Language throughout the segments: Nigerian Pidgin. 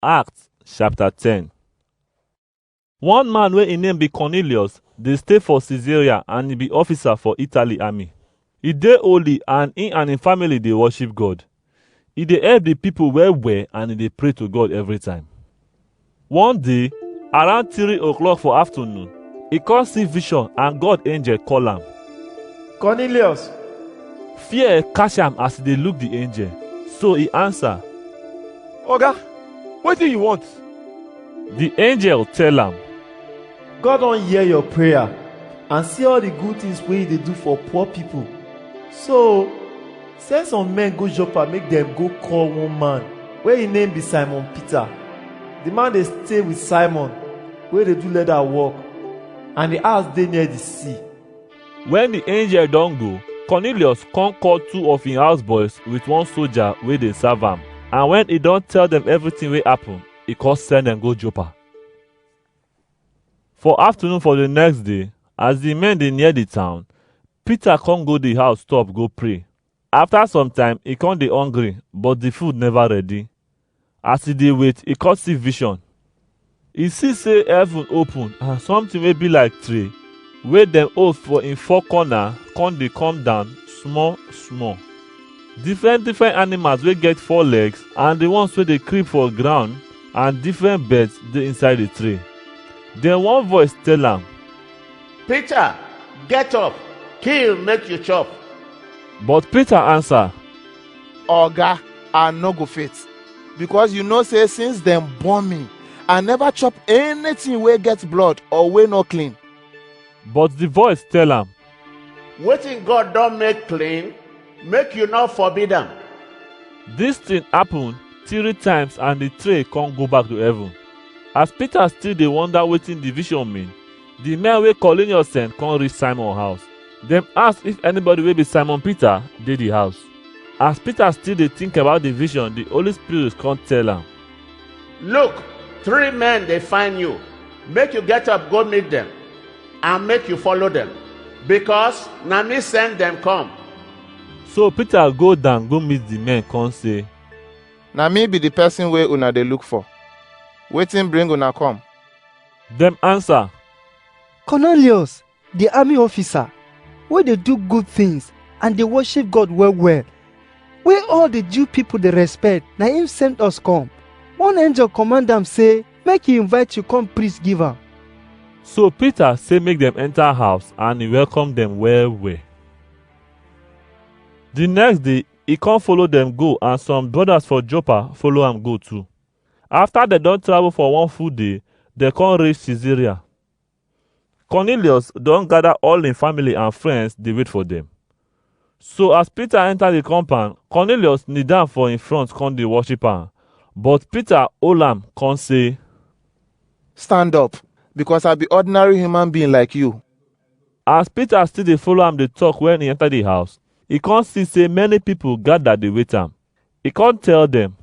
Acts chapter 10 One man wey im name be Cornelius dey stay for Caesarea and e be officer for Italy army. E dey holy and im and im family dey worship God. E dey help the people well well and e dey pray to God every time. One day, around three o'clock for afternoon, e come see vision and God angel call am. Cornelius, Fear catch am as e dey look the angel. So e answer, Oga, wetin you want? The angel tell am, God don hear your prayer and see all the good things wey you dey do for poor people. So, send some men go Joppa make dem go call one man wey im name be Simon Peter. The man dey stay with Simon wey dey do leather work and the house dey near the sea. When the angel don go, Cornelius come call two of him houseboys with one soldier wey dey serve am. And when he don tell them everything wey happen, he come send them go Joppa. For afternoon for the next day, as the men dey near the town, Peter come go the house top go pray. After some time, e come dey hungry, but the food never ready. As e dey wait, e come see vision. E see say heaven open and something wey be like tray wey dem hold for im four corner come dey come down small small. Different different animals wey get four legs and the ones wey dey creep for ground and different birds dey inside the tray. Then one voice tell am, Peter, get up, kill make you chop. But Peter answer, Oga, I no go fit. Because you know say since dem born me, I never chop anything wey get blood or wey no clean. But the voice tell am, Wetin God don make clean, make you no forbid am. Dis thing happen three times and the tray come go back to heaven. As Peter still dey wonder wetin the vision mean, the men wey Cornelius send come reach Simon house. Dem ask if anybody wey be Simon Peter dey the house. As Peter still dey think about the vision, the Holy Spirit come tell am, Look, three men dey find you. Make you get up go meet them and make you follow them because na me send them come. So Peter go down go meet the men come say, Na me be the person wey una dey look for. Wetin bring una come? Dem answer, Cornelius, the army officer wey dey do good things and dey worship God well well, wey all the Jew people dey respect, na him send us come. One angel command am say make he invite you come preach give am. So Peter say make dem enter house and he welcome dem well well. The next day, he come follow dem go and some brothers for Joppa follow am go too. After dem don travel for one full day, dem come reach Caesarea. Cornelius don gather all im family and friends dey wait for dem. So as Peter enter the compound, Cornelius kneel down for im front come dey worship am. But Peter hold am come say, Stand up, because I be ordinary human being like you. As Peter still dey follow am dey talk when e enter the house, e come see say many people gather dey wait am. E come tell dem,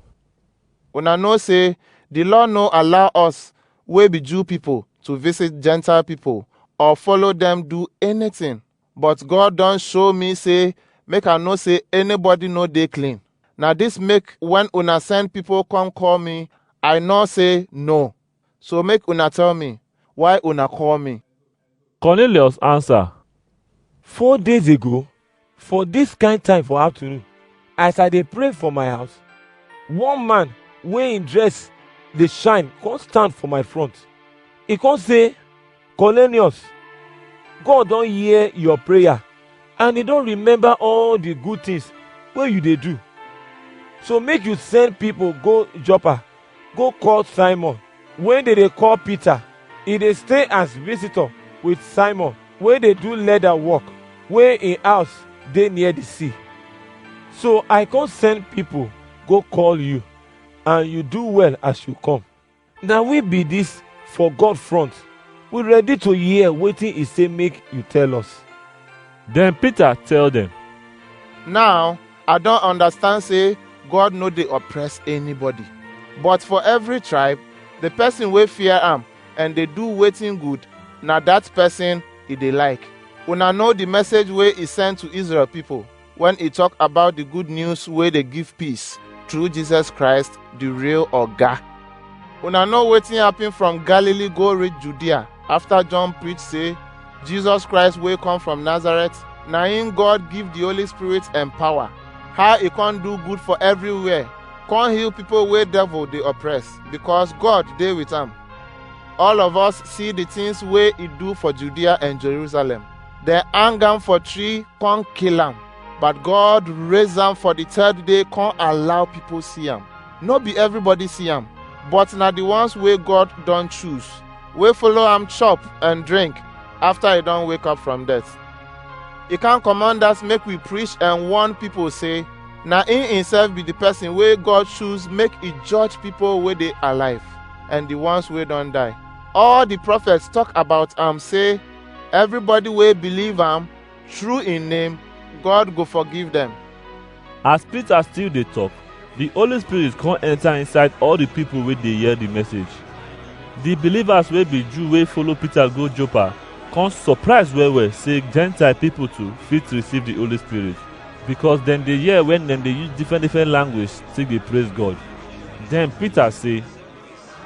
Una know say the law no allow us wey be Jew people to visit Gentile people or follow them do anything. But God don show me say make I know say anybody no dey clean. Na this make when una send people come call me, I know say no. So make una tell me why una call me. Cornelius answer, Four days ago, for this kind time for afternoon, as I dey pray for my house, one man wey im dress dey shine come stand for my front. He come say, Cornelius, God don hear your prayer and he don remember all the good things wey you dey do. So make you send people go Joppa go court Simon wey dey dey call Peter. E dey stay as visitor with Simon wey dey do leather work wey im house dey near the sea. So I come send people go call you and you do well as you come. Na we be this for God front. We ready to hear wetin he say make you tell us. Then Peter tell them, Now, I don understand say God no dey oppress anybody. But for every tribe, the person wey fear am and dey do wetin good, na that person e dey like. Una know the message wey e send to Israel people when e talk about the good news wey dey give peace through Jesus Christ, the real Oga. Una know wetin happen from Galilee go reach Judea after John preach say Jesus Christ wey come from Nazareth na him God give the Holy Spirit and power. How he come do good for everywhere, come heal people wey devil dey oppress because God dey with am. All of us see the things wey he do for Judea and Jerusalem. Dem hang am for tree, come kill am. But God raise am for the third day, come allow people see am. no be everybody see am but na the ones wey god don choose wey follow am chop and drink after e don wake up from death e can command us make we preach and warn people say na him himself be the person wey god choose make e judge people wey dey alive and the ones wey don die all the prophets talk about am say everybody wey believe am through im name, God go forgive dem. As Peter still dey talk, the Holy Spirit come enter inside all the people wey dey hear the message. The believers wey be Jew wey follow Peter go Joppa come surprise well well say Gentile people too fit receive the Holy Spirit because dem dey hear when dem dey use different different language take dey praise God. Then Peter say,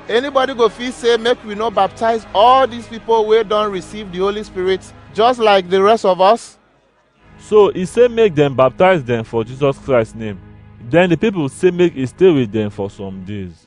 Anybody go fit say make we no baptize all these people wey don receive the Holy Spirit just like the rest of us? So he say make dem baptize dem for Jesus Christ name. Then the people say make he stay with dem for some days.